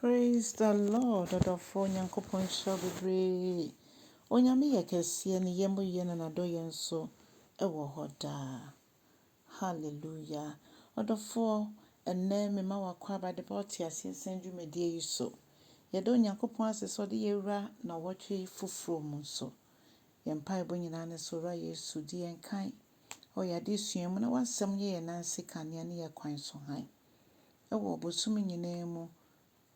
Praise the Lord ɔdɔfoɔ Nyankopɔn nhyira wo bebree Onyame yɛ kɛseɛ ne yɛ mu yɛ na nadɔyɛ nso ɛwɔ hɔ daa Hallelujah ɔdɔfoɔ ɛnnɛ mema wo akwaaba de ba ɔteaseɛ sɛm dwumadie yi so Yɛda Onyankopɔn ase sɛ ɔde yɛ wura nawɔtwe foforɔ mu nso Yɛ mpaebɔ nyinaa ne sɛ Owura Yesu di yɛn kan wɔ yɛ adesua mu na wasɛm yɛ yɛ nan ase kanea ne yɛ kwan so hann wɔ bosome nyinaa mu,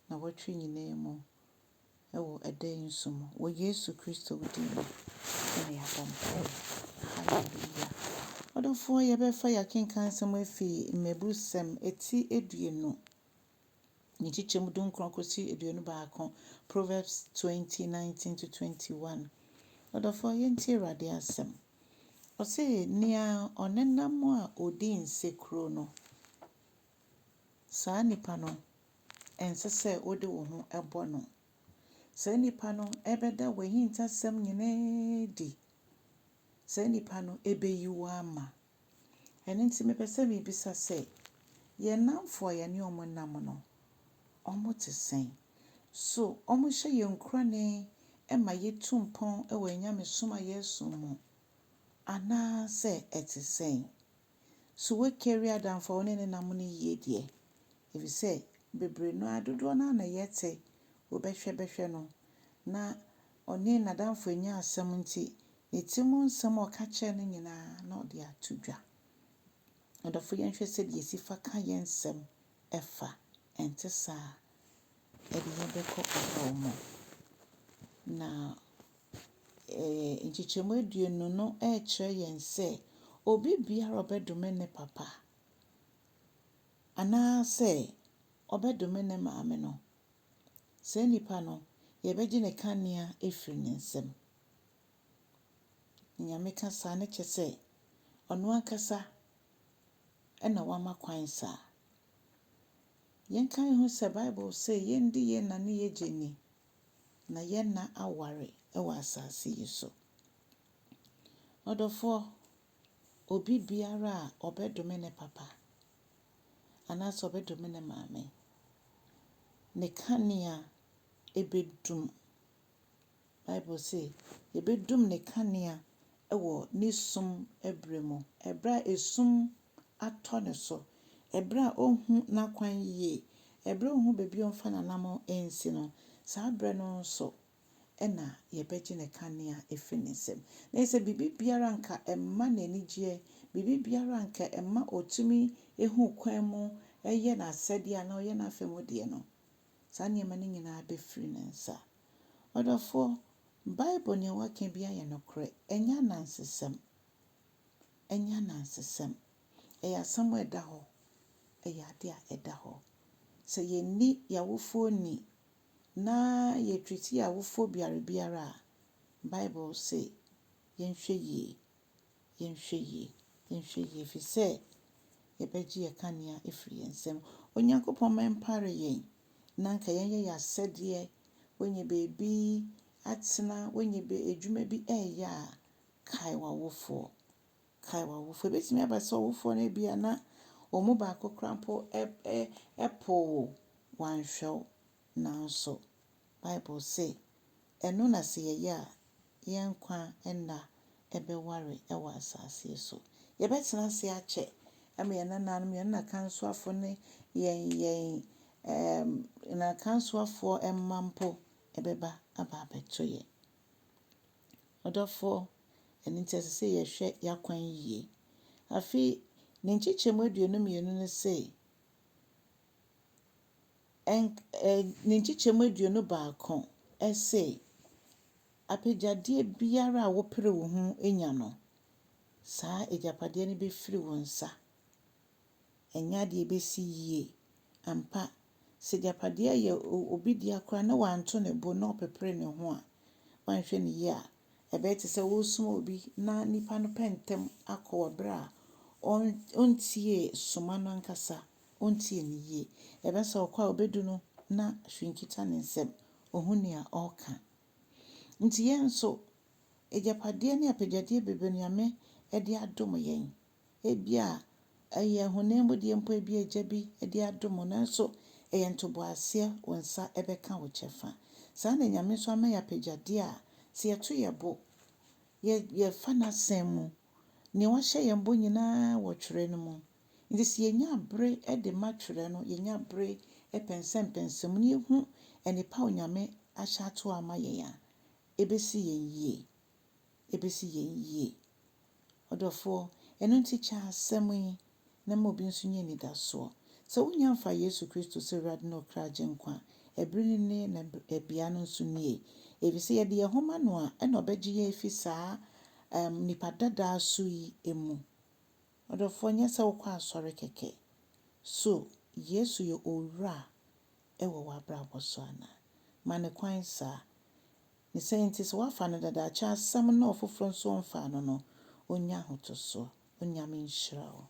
nnawɔtwe nyinaa mu, wɔ ɛda yi nso mu. Wɔ Yesu Kristo din mu na yɛabɔ mpaeɛ. Hallelujah. Adɔfoɔ, yɛbɛfa yɛakenkan nsɛm afiri Mmɛbusɛm ti aduonu, ne nkyekyɛmu dunkron kɔsi aduonu baako, Proverbs twenty, nineteen to twenty one. Adɔfoɔ, yɛntie Awurade asɛm. Ɔse nea ɔnenam a ɔdi nsekuro no, saa nipa no ɛnsɛ sɛ wode wo ho bɔ no. Saa nipa no bɛda w'ahintasɛm nyinaa adi. Saa nipa no bɛyi wo ama. Ɛno nti mepɛ sɛ mebisa sɛ, yɛn nnamfo a yɛne wɔn nam no, wɔte sɛn? So wɔhyɛ yɛn nkuranee ma yetu mpɔn wɔ yɛn nyamesom a yɛresom mu, anaasɛ ɛte sɛn? So woakari adamfo a wo ne no nam no yiye deɛ? Efisɛ bebree no ara, dodoɔ no ara na yɛte wo bɛhwɛ bɛhwɛ no, na ɔne n'adamfo annya asɛm nti, ne ti mu nsɛm a ɔka kyerɛɛ no nyinaa, na ɔde ato dwa. Adɔfo, yɛnhwɛ sɛdeɛ yɛsi fa ka yɛn nsɛm fa, ɛnte saa a, ɛde yɛn bɛkɔ ɔhaw mu. Na nkyekyɛmu aduonu no rekyerɛ yɛn sɛ, obibiara a ɔbɛdome ne papa anaasɛ ɔbɛdome ne maame no, Saa nipa no, yɛbɛgye ne kanea afiri ne nsam. Nyame ka saa no kyɛ sɛ, ɔno ankasa na wama kwan saa. Yɛnkae ho sɛ Bible se yɛndi yɛn nna ne yɛgye nni, na yɛn nna aware wɔ asase yi so. Ɔdɔfoɔ, Obi biara a ɔbɛdome ne papa anaasɛ ɔbɛdome ne maame, ne kanea bɛdum. Bible se yɛbɛdum ne kanea wɔ ne sum berɛ mu, berɛ a esum atɔ ne so, berɛ a ɔnhu n'akwan yie, berɛ a ɔnhu baabi a ɔmfa n'anammɔn nsi no, saa berɛ no nso na yɛbɛgye ne kanea afiri ne nsam. Na ɛsɛ sɛ biribi biara anka ɛmma no anigyeɛ, biribi biara anka ɛmma ɔtumi hu kwan mu yɛ n'asɛdeɛ anaa ɔyɛ n'afa mu deɛ no, saa nneɛma no nyinaa bɛfiri ne nsa. Ɔdɔfoɔ, Bible nea wɔaka biara yɛ nokorɛ, ɛnyɛ anansesɛm. Ɛnyɛ anansesɛm. Ɛyɛ asɛm a ɛda hɔ. Ɛyɛ adeɛ a ɛda hɔ. Sɛ yɛnni yɛn awofoɔ nni na yetwitwi awofo biare biara a, Bible se yɛnhwɛ yie, yɛnhwɛ yie, yɛnhwɛ yie, ɛfiri sɛ yɛbɛgye yɛn kanea afiri yɛn nsam. Onyankopɔn mma ɛmpare yɛn na anka yɛnyɛ yɛn asɛdeɛ, woanya baabi atena, woanya adwuma bi reyɛ a, kae w'awofoɔ. Kae w'awofo. Ebetumi aba sɛ ɔwofo no ebia na wɔn mu baako koraa mpo pow wo, wanhwɛ wo. Nanso, Bible se, Ɛno na sɛ yɛyɛ a, yɛn nkwa nna bɛware wɔ asase yi so. Yɛbɛtena ase akyɛ ama yɛn nananom, yɛn anakansoafo ne yɛn yɛn anakansoafoɔ mma mpo bɛba aba abɛto yɛn. Ɔdɔfoɔ, ɛno nti ɛsɛ sɛ yɛhwɛ y'akwan yie. Afei ne nkyekyɛmu aduonu mmienu no se, ɛnk ɛɛ ne nkyekyɛmu aduonu baako se, apɛgyadeɛ biara a wopere wo ho nya no, saa agyapadeɛ no bɛfiri wo nsa. ɛnyɛ ade a ebesi yiye. Ampa, sɛ agyapade a ɛyɛ obi dea koraa na wanto ne bo na ɔpepere ne ho a, woanhwɛ no yiye a, ɛbɛyɛ te sɛ woresoma obi na nipa no pɛ ntɛm akɔ wɔ bere a ontiee soma no ankasa, ontiee no yiye. Ɛbɛyɛ sɛ ɔkɔ a obedu no na hwee nkita ne nsam, onhu nea ɔreka. Enti yɛn nso, agyapade ne apɛgyade bebrebe no Nyame de adom yɛn. Ebia ɛyɛ honam mu deɛ mpo, ebia agya bi de adom wo, nanso ɛyɛ ntoboaseɛ, wo nsa bɛka wo kyɛfa. Saa ara na Nyame nso ama yɛn apɛgyadeɛ a, sɛ yɛto yɛn bo, yɛ, yɛfa N'Asɛm mu, nea Wahyɛ yɛn bɔ nyina ara wɔ Twerɛ no mu. Nti sɛ yɛnya bere de ma Twerɛ no, yɛnya bere pɛnsɛmpɛnsɛm mu, na yɛhu nnepa a Onyame ahyɛ ato hɔ ama yɛn a, ɛbɛsi yɛn yie. ebesi yɛn yie. Ɔdɔfoɔ, ɛno nti kyɛ asɛm yi na ma obi nso nya anidasoɔ. Sɛ wonnya mfaa Yesu Kristo sɛ Awurade ne Ɔkra Agyenkwa a, ɛbere no nie na bea no nso nie. Ɛfiri sɛ yɛde yɛn ho ma No a, ɛna Ɔbɛgye yɛn afi saa ɛɛm nnipa dadaa su yi mu. Ɔdɔfoɔ, nyɛ sɛ wokɔ asɔre kɛkɛ. So Yesu yɛ Owura wɔ w'abrabɔ so anaa? Ma No kwan saa. Ne sɛ enti sɛ wɔafa no dada akyɛ asɛm na ɔfoforɔ nso ɔmfaa no no, ɔnnya ahotosoɔ. Onyame nhyira wo.